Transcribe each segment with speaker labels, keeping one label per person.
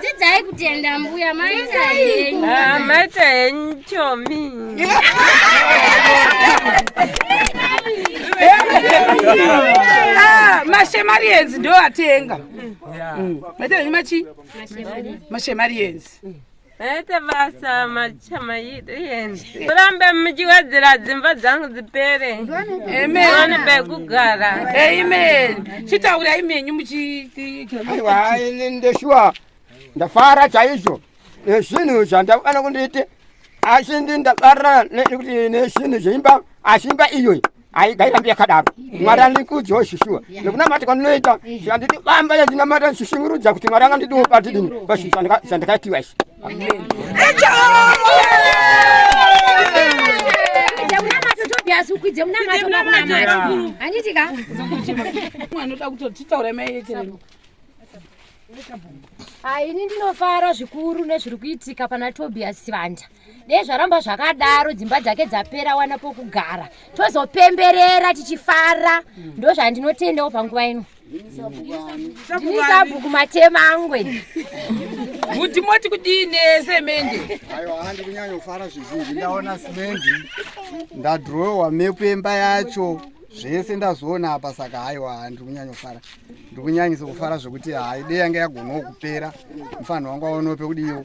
Speaker 1: dzidzai
Speaker 2: kutenda mbuya maita henyu Ah, maita
Speaker 3: henyu chomi Ah,
Speaker 1: mashemarians ndo atenga maita henyu machi mashemarians Aita
Speaker 3: basa machama yedu yende. Murambe muchiwedzera dzimba dzangu dzipere. Amen. Muone
Speaker 1: pekugara.
Speaker 3: Amen.
Speaker 1: Chitaura imenyu muchiti. Aiwa ini
Speaker 4: ndeshuwa ndafara chaizvo nezvinhu zvandakana kundiite asi ndi ndakarira nekuti nezvinhu zveimba asi imba iyoyi haigairambi yakadaro mwari andikudzwa ishishuwa nekunamata kwandinoita anditi bamba yandinamata ndishishingurudza kuti mwari anga ndidiwo patidini pashishu zvandakaitiwa izvi
Speaker 1: ukwidze munamato
Speaker 2: makunamati handitika anoda
Speaker 1: kutotitaura mayeterero
Speaker 2: ini ndinofara zvikuru nezviri kuitika pana tobias vanja dei zvaramba zvakadaro dzimba dzake dzapera wana pokugara tozopemberera tichifara mm. ndo zvandinotendawo panguva ino ndini sabhuku matemangwe
Speaker 1: kuti moti kudii nesemende ayo handi
Speaker 5: kunyanyofara zvizhinji ndaona simendi ndadhirowewa mepu emba yacho zvese ndazoona apa saka haiwa handi kunyanyofara ndikunyanyisa kufara zvekuti haidei yanga yagonawo kupera mufanhi wangu aonope kudiiwo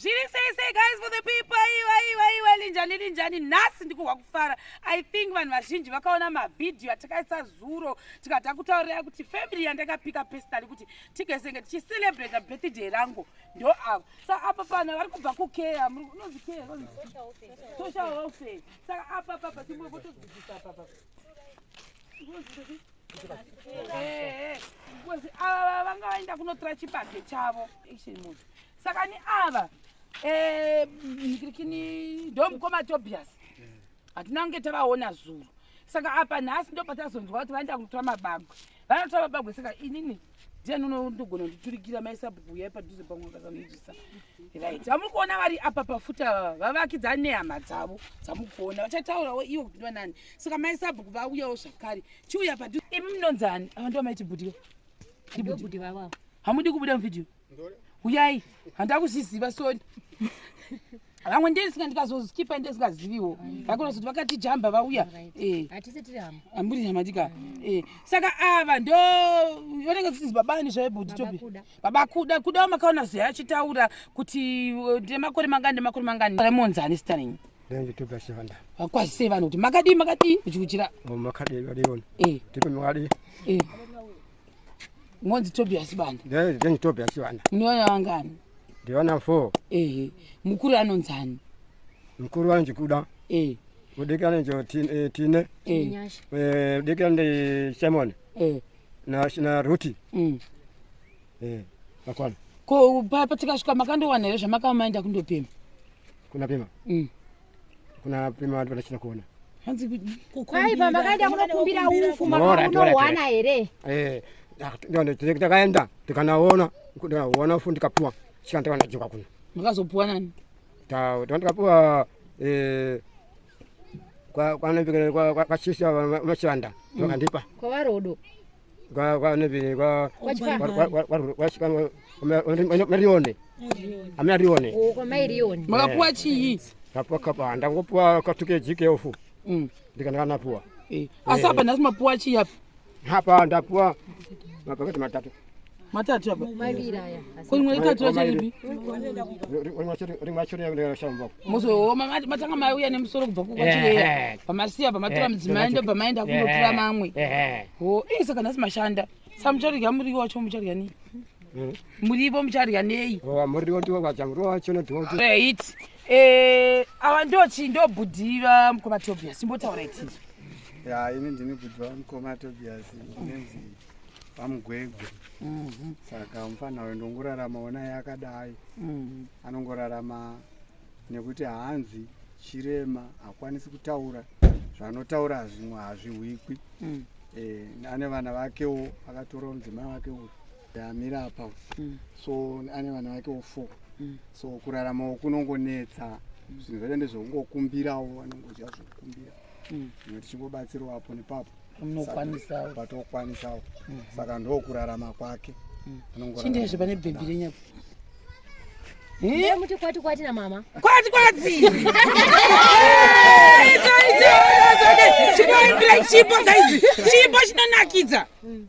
Speaker 1: zviri sei sei guys for the people aiwa aiwa aiwa linjani linjani nhasi ndikuhwa kufara i think vanhu vazhinji vakaona mavhidhiyo atakaisa zuro tikada kutaurira kuti family yandakapika personally kuti tigezenge tichicelebrata birthday rangu ndo ava saka apa pana vari kubva kukeya unonzi keya social welfare saka apa papa timbovotodzidzisa papa ava vanga vaenda kunotora chibage chavo actually moto saka ni ava eh, kini ndo mukoma tobias hatina kunge tavaona zuro saka apa nhasi ndo patazonzwa kuti vaenda kunotora mabagwe vanotora mabagwe saka inini ndiani unondogona nditurikira maisabhuku uya padhuze pamwe akazanoitisa right vamuri kuona vari apa pafuta vava vavakidza nehama dzavo dzamuri kuona vachataurawo ivo kuti ndovanani saka maisabhuku vauyawo zvakare chiuya padhuze imi munonzani ava ndo maiti bhudhiyo
Speaker 2: hamudi kubuda muvhidhiyo
Speaker 1: huyai handida kuzviziva sori vamwe ndesinga ndikazoskipa ndesingaziviwo vakonozoti vakati jamba vauya eh.
Speaker 2: amburi hamadika
Speaker 1: eh. saka ava ndo vanenge vachinzi babani zvaibudi topi baba kuda kudawo makaona zve achitaura kuti eh, ndemakore mangani ndemakore mangani remonzani sita renyu
Speaker 4: vakwazisei vanhu kuti
Speaker 1: makadii makadii uchikuchira makadii
Speaker 4: makadii
Speaker 1: Monzi Tobias Banda. Ndiye ndiye Tobias Banda.
Speaker 4: Munoona wangani?
Speaker 1: Ndiona 4.
Speaker 4: Eh. Mukuru anonzani?
Speaker 1: Mukuru wanje
Speaker 4: kuda. Eh. Udikana njo tine eh, tine. Eh. eh udikana ndi Simon. Eh. Na na Ruti. Mm. Eh. Akwana. Ko papa
Speaker 1: tikasvika makandowana here zvamakaenda kundopima? Kunapima.
Speaker 4: Mm. kuna pima vantu vanachina kuona hanzi
Speaker 2: kwai baba kaenda kunokumbira ufu makaunowana
Speaker 4: here eh, takaenda tikanaona ndikaona ufu ndikapuwa sika ndikanajoka kuno makazopuwa
Speaker 1: nani ndikapuwa
Speaker 4: eh, kwanambikira kwachisa vachivanda vakandipa mm. kwavarodo makapuwa
Speaker 2: chii
Speaker 4: ndangopuwa katukeji keofu mm. ndikanakanapuwa eh, asi apa nhasi
Speaker 1: mapuwa chii apa apa ndapuwa
Speaker 4: mapaketi matatu
Speaker 2: matatu apa
Speaker 1: maviri aya ko rimwe itatu
Speaker 4: racho ripi rimwe racho rinashamba muzooma matanga
Speaker 1: mauya nemusoro kubva kukwatireya pamasiya pamatora mudzimai ndobva maenda kunotora mamwe ho ii saka nhasi mashanda sa muchadya muriwo wacho muchadya nei murivo muchadya nei murivo ndiwo vacha
Speaker 4: murivo wacho nodhoti right
Speaker 1: ava ndochi ndobhudiva mukoma tobias imbotaura itizo ya ini
Speaker 5: ndinobhudiva mukoma tobias ndinenzi pamugwegwe mhm. saka mufana uyo ndongorarama ona yakadai mhm. anongorarama nekuti hanzi chirema hakwanisi kutaura zvanotaura hazvimwe hazvihwikwi mhm. eh, ane vana vakewo akatorawo mudzimai wake uyu amira apa so ane vana vakewo four so kuraramawo kunongonetsa zvinhu zvese ndezvekungokumbirawo anongodya zvekukumbira zvimwe tichingobatsirawo apo nepapo unokwanisawo patokwanisawo mm. saka ndokurarama kwake mm. chindezve
Speaker 1: pane bhebhi renyapo
Speaker 2: muti kwati kwati na mama kwati kwati
Speaker 1: chipo guys chipo chinonakidza mm.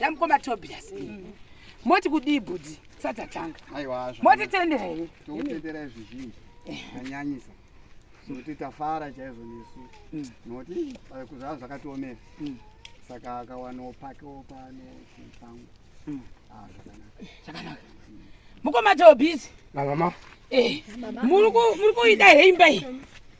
Speaker 1: namukoma tobias mm. moti kudii bhudhi satatanga motitendera
Speaker 5: here
Speaker 1: tokutendera zvizhinji
Speaker 5: anyanyisa nokuti tafara chaizvo nesu mm. nokuti zvava zvakatiomera mm. saka akawanawo pakewo pano chipangu mm. ah, zvakanaka
Speaker 1: mukoma tobhizi eh, muri kuida here imba iyi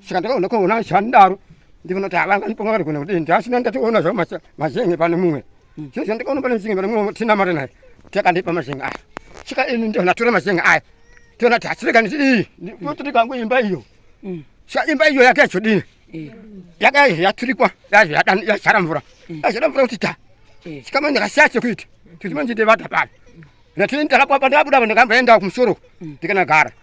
Speaker 4: saka ndakaona kuona zvandaro ndikunoti avanganipoma vari kuona kudini ndasina ndationa zvavo mazenge pane mumwe hmm. zvozvo ndikaona pane mzinge pane mumwe tinamata naye takandipa mazenge aya saka ini ndiona tora mazenge aya tiona ti hasireka niti iyi otirikwangu imba iyo hmm. sa imba iyo yake yazodini eh. yaka yaturikwa yazara mvura hmm. yazara mvura kuti ta sikama ndikasiya sekuita tizimanichitevata pano natini ndakapapa ndabuda pa ndikamboenda kumusoro ndikanagara mm.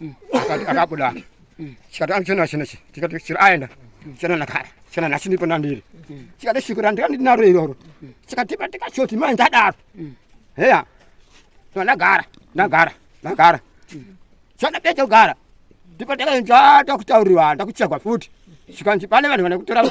Speaker 4: mm. akati akabuda mm. chikati anchena chena chi chikati chira aenda chena nakara chena nachinipo nandiri mm. chikati shiko randika ndinaro iroro chikati patika choti mai ndadaro heya so ndagara ndagara ndagara chana becha kugara ndipo ndakaenza ndakutauriwa ndakuchagwa futi chikanzi pane vanhu vanokutora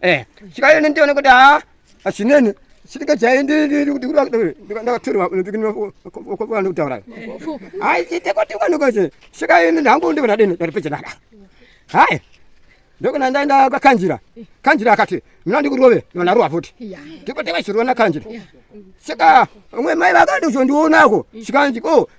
Speaker 5: eh
Speaker 4: chikayo nendione kuti ha ah, asinene sitike chai ndi ndi kuti kuri wakati ndakatorwa ndikini wakopa ndi kutaura hai chite kuti kwani kwache chikayo ndi ndangu ndi kuna dini ndi peche naka hai ndokuna ndaenda kwa kanjira kanjira akati mina ndi kurove ndona ruwa futi ndiko tewa chirona kanjira sika umwe mai vakati uzondiona ko sikanji ko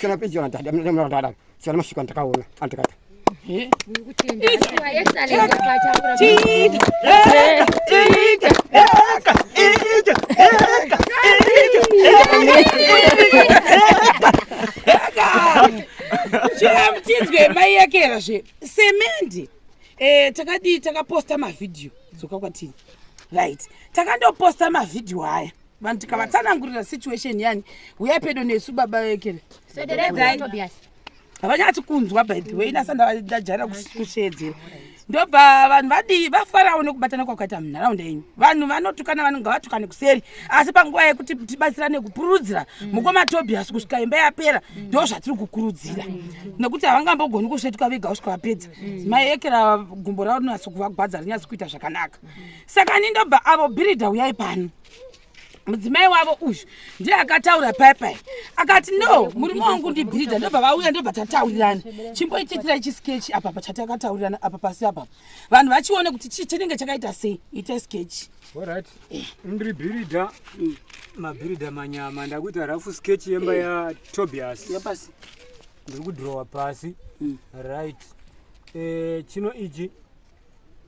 Speaker 4: Sina picha na dada, mimi na dada. Sina mashiko nataka uone. Anataka. Eh? Nikuchimba. Esa leo kwa chakula.
Speaker 1: Chika. Chika. Eka. Eka. Eka. Eka. Chika mtizwe mai yake era zve. Semendi. Eh, takadi takaposta ma video. Dzoka kwatini. Right. Takandoposta ma video haya. vanhu tikavatsanangurira situation yani huya pedo nesu baba vekere havanyatsi kunzwa by the way inasa ndajaira kusheedzera ndobva vanhu vadii vafarawo nekubatana kwakaita munharaunda yenyu vanhu vanotukana vanonga vatukane kuseri asi panguva yekuti tibatsirane kupururudzira mm. mukoma tobias kusvika imba yapera mm. ndo zvatiri kukurudzira mm. nekuti havangambogoni kusvetuka vega kusvika vapedza mai ekera gumbo ravo rinonatsi kuvagwadza rinyatsi kuita zvakanaka saka ni ndobva avo birida uyai pano mudzimai wavo uyu ndiye akataura paya paya akati no murume wangu ndibhidha ndobva vauya ndobva tataurirana chimboitiitira ichi skechi apa pachatakataurirana apa pasi apapa vanhu vachione kuti chii chinenge chakaita sei ita skechi orit eh.
Speaker 6: ndiri bhiridha mm. mabhiridha manyama ndakuita rafu skechi yemba eh. yatobias
Speaker 1: ndiri kudhirowa
Speaker 6: pasi mm. right eh, chino ichi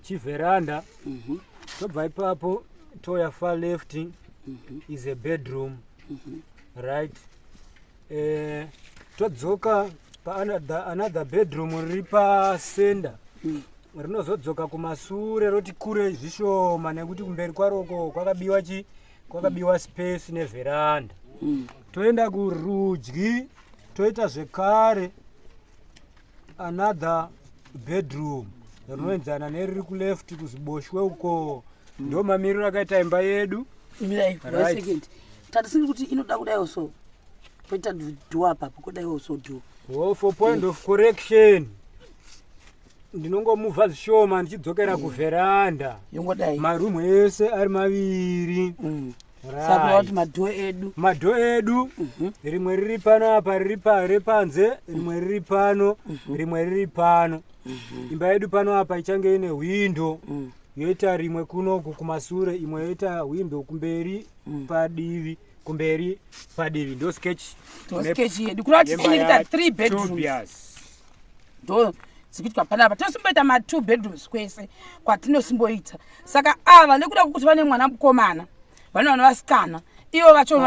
Speaker 6: chiveranda mhm. tobva ipapo toya far left mhm. is a bedroom mhm. right eh, todzoka paanother bedroom riri pasenda mm. rinozodzoka kumasure roti kure zvishoma nekuti kumberi kwaroko kwakabiwa chi kwakabiwa space neveranda mm. toenda kurudyi toita zvekare another bedroom rinoenzana neriri kuleft kuziboshwe uko ndo mamiriro akaita imba yedu mirai
Speaker 1: Right. second tatisiri kuti inoda kudaiwo so poita dhuwa papo kudaiwo so dhuwa oh, for point of
Speaker 6: correction ndinongomuvha zvishoma ndichidzokera kuveranda yongodai maroom ese ari maviri Mm. Sakura
Speaker 1: kuti madho edu. Madho edu. Mhm. Rimwe riri
Speaker 6: pano apa riri pari panze, rimwe riri pano, mhm. rimwe riri pano. Mhm. Imba yedu pano apa ichange ine hwindo. Mm. Yoita rimwe kuno kumasure, imwe yoita hwindo kumberi mm. padivi. Kumberi padivi ndo sketch. Ndo sketch yedu.
Speaker 1: Kuna kuti tine 3 bedrooms. ndo dzikuitwa panapa tinosimboita matwo bedrooms kwese kwatinosimboita saka ava nekuda kwekuti vane mwana mukomana vane vana vasikana ivo vacho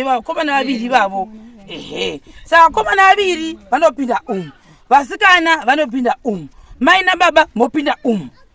Speaker 4: vaakomana vaviri
Speaker 1: ivavo ehe saka vakomana vaviri vanopinda umu vasikana vanopinda umu mai nababa mopinda umu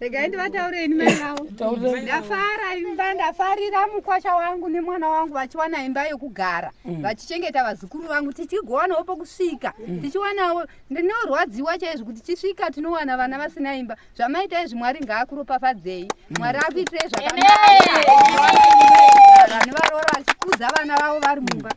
Speaker 7: Regai ndivataure ini mai vavo. Ndafara imba, ndafarira mukwasha wangu nemwana wangu vachiwana imba yokugara, mm. vachichengeta vazukuru vangu, tichigowanawo pokusvika, mm. tichiwanawo. Ndinorwadziwa chaizvo kuti chisvika tinowana vana vasina imba. Zvamaita izvi Mwari ngaakuropafadzei. Mm. Mwari akuitirei zvakanaka. Vanhu varoora vachikudza vana vavo vari mumba.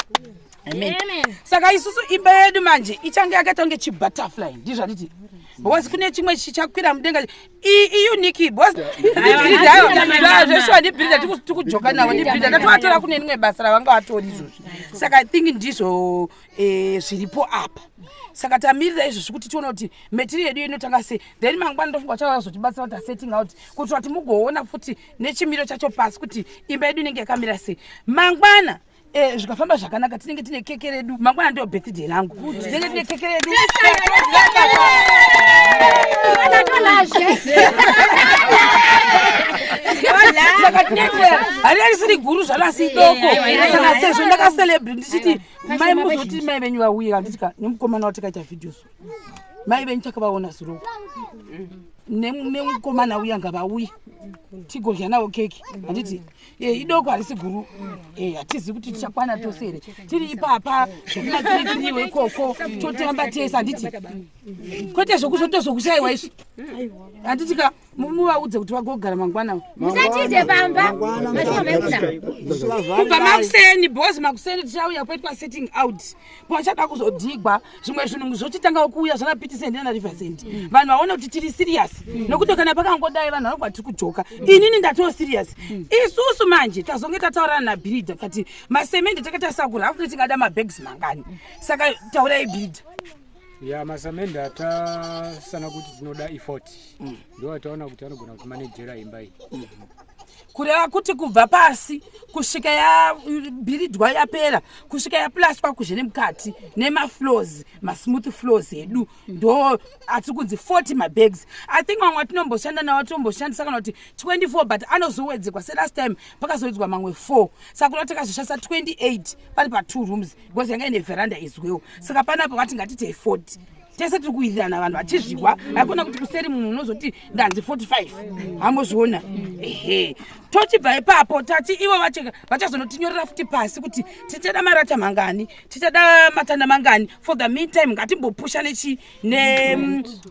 Speaker 7: Amen.
Speaker 1: Saka isusu imba yedu manje ichange yakaita kunge chibutterfly ndizvo anditi because kune chimwe chichakwira mudenga iuniki bcosveshuwa ndibhirida tikujoka navo ndibhirida ndatovatora kune rimwe basa ravanga vatori izvozvi saka i think ndizvo eh, zviripo apa saka tamirira izvozvi kuti tiona kuti matiri yedu inotanga sei then mangwana ndofunga chavazotibatsira kuti asetting out kuitira kuti mugoona futi nechimiro chacho pasi kuti imba yedu inenge yakamira sei mangwana Eh, zvikafamba zvakanaka tinenge tine keke redu mangwana ndiyo birthday rangu tinenge tine keke redu saka tinendeya hari yarisiri guru zvalo asi idoko saka sezvo ndakacelebri ndichiti mai muzoti mai venyu vauye kanditika nemukomana watakaita video so mai venyu takavaona zuro nemukomana uya ngavauye tigodya navo keki handiti Eh, idoko harisi guru eh, hatizivi kuti tichakwana tose here tiri ipapa zvekunakiritiriwe ikoko totamba tese handiti kwete zvekuzotozokushaiwa izvi handiti ka muvaudze kuti vagogara mangwana musatize pamba kubva makuseni bos makuseni tichauya kwaitwa setting out pavachada kuzodhigwa zvimwe zvinhu zvochitanga kuuya zvana pitisendi nana riversend mm. vanhu vaone kuti tiri serious mm. nokuti kana pakangodai vanhu vanobva tiri kudzoka mm. inini ndatoo serious isusu manje tazonge tataurana nabhirida kati masemende takatarisa kuri hafu tingada mabags mangani saka taurai bhirida ya
Speaker 6: masamende atasana kuti tinoda efort ndo ataona kuti anogona kumanejera imba iyi kureva
Speaker 1: kuti kubva pasi kusvika yabhiridwa yapera kusvika yaplaswa kuzve nemukati nemaflows masmooth flows edu ndo atiri kunzi 40 mabags i think mamwe atinomboshanda nawo tinomboshandisa kana kuti 24 but anozowedzekwa selast time pakazowedzwa mamwe 4 saka kuda takazoshandisa 28 pari pa2 rooms because yanga ine veranda izwewo saka panapo vati ngatitei 40 tese tiri kuwirirana vanhu vachizviwa hakuna kuti kuseri munhu unozoti ndanzi 45 hamozviona ehe tochibva ipapo tati ivo vachazonotinyorera futi pasi kuti tichada marata mangani tichada matanda mangani for the mean time ngatimbopusha nechi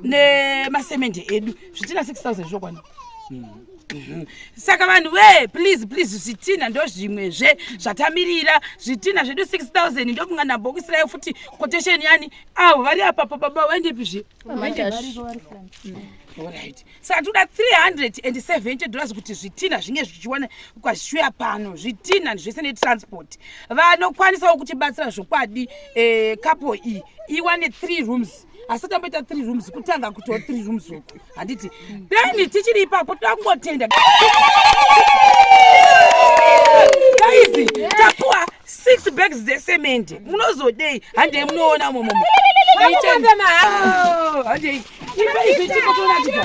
Speaker 1: nemasemende edu zvitina 6000 zvokwana Mhm. saka vanhu wee please please zvitinha ndozvimwezve zvatamirira zvitinha zvedu 6000 ndokunga nabhokisi rayo futi quotation yani avo vari apapo baba vaendepi zve orit saka toda 370 dollars kuti zvitina zvinge zvichiwana kwazvishuya pano zvitina zvese netransport vanokwanisawo kutibatsira zvokwadi eh, kapo iyi iwane 3 rooms asati amboita 3 rooms kutanga kutiwo 3 rooms uku handiti dani tichiri ipapo takungotenda gaizi tapuwa six bags dzesemende munozodei handei munoona momomo handei ipaizvechikotoratidza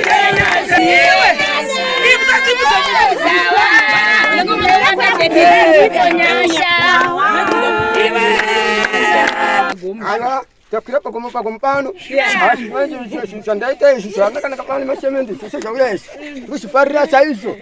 Speaker 1: Ala takwira
Speaker 4: pagomo pagomo pano asi manje zvandaita izvi zvakanaka pano masemende zvese zvauya izvi kuchiparira chaizvo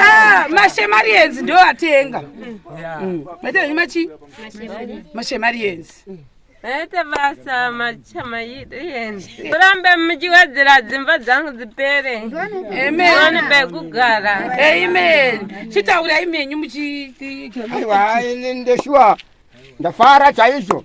Speaker 1: Ah, mashemarians ndo atenga matenga machi mashemarians Naita
Speaker 3: basa machamaiens kurambe muchiwedzera dzimba dzangu dzipere amen pekugara amen
Speaker 1: chitaurai menyu muchiti aiwa
Speaker 4: ndeshuwa ndafara chaizvo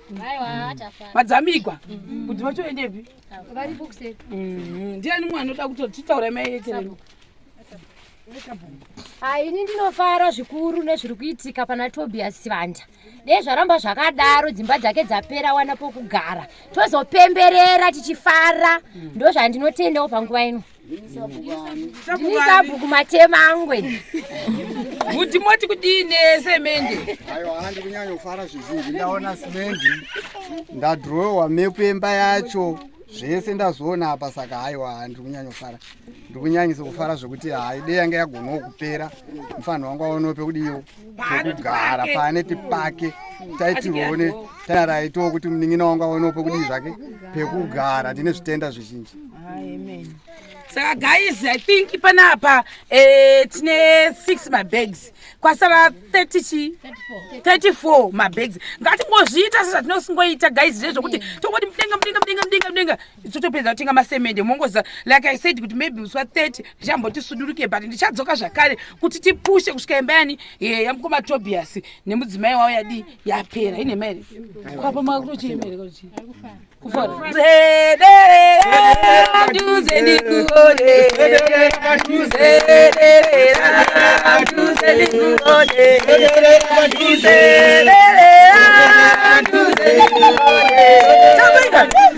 Speaker 2: madzamigwa mm.
Speaker 1: kuti vachoendepi mm-hmm.
Speaker 2: ndiani
Speaker 1: mwe anoda kutotitaura mai yechereni
Speaker 2: ini ndinofara zvikuru nezviri kuitika pana tobias sivanja dei zvaramba zvakadaro dzimba dzake dzapera wana pokugara tozopemberera tichifara mm. ndozvandinotendawo panguva ino ndini sabhuku matema angwe
Speaker 1: kuti moti kudii nesemende aiwa handi
Speaker 5: kunyanyofara zvizhinji ndaona simendi ndadhirowewa mepu emba yacho zvese ndazoona apa saka haiwa handiri kunyanyofara ndiri kunyanyisa kufara zvekuti haidei yanga yagonawo kupera mufanhi wangu aonewo pekudiiwo pekugara paneti pake taitione tanaraitowo kuti munin'ina wangu aonewo pekudii zvake pekugara tine zvitenda zvizhinji
Speaker 1: saka guys i think panapa eh, tine six mabags kwasara 30 chi 34 mabags ngatingozviita sezvatinosngoita guys zvezvokuti tongoti mudenga mudenga mudenga mudenga mudenga totopedza kutenga masemende mongoza like i said kuti maybe muswa 30 ndichamboti suduruke but ndichadzoka zvakare kuti tipushe kusvika imba yani eh, yamukoma tobias nemudzimai wavo yadii yapera ine maere kwapa makutochii maere kakuchii Thank you.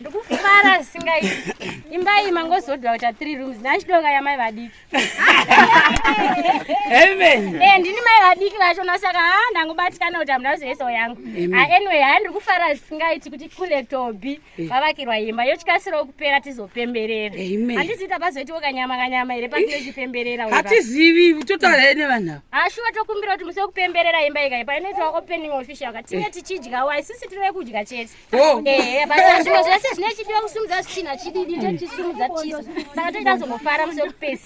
Speaker 2: ndikufara zvisingaiti imba iyi mangozodwa kuita three rooms nachidoka yamai vadiki
Speaker 1: eh, ndini mai vadiki
Speaker 2: vacho nasaka ha ndangobatikana kuti hamuna kuzoesawo yangu anyway haa ndiri kufara zvisingaiti kuti kule tobi vavakirwa imba yochikasirawo kupera tizopemberera handiziita pazoitiwo kanyama kanyama here patinochipemberera hatizivi
Speaker 1: totaura here nevanhu ava hashuwa tokumbira kuti
Speaker 2: musi wekupemberera imba ika ipa inoitwa opening official ka tinge tichidyawo isisi tiri vekudya chete ehe basa zvimwe zvese zvine chidiwa kusumudza zvichina chididi tochisumudza tisu saka toita zongofara musi wekupesa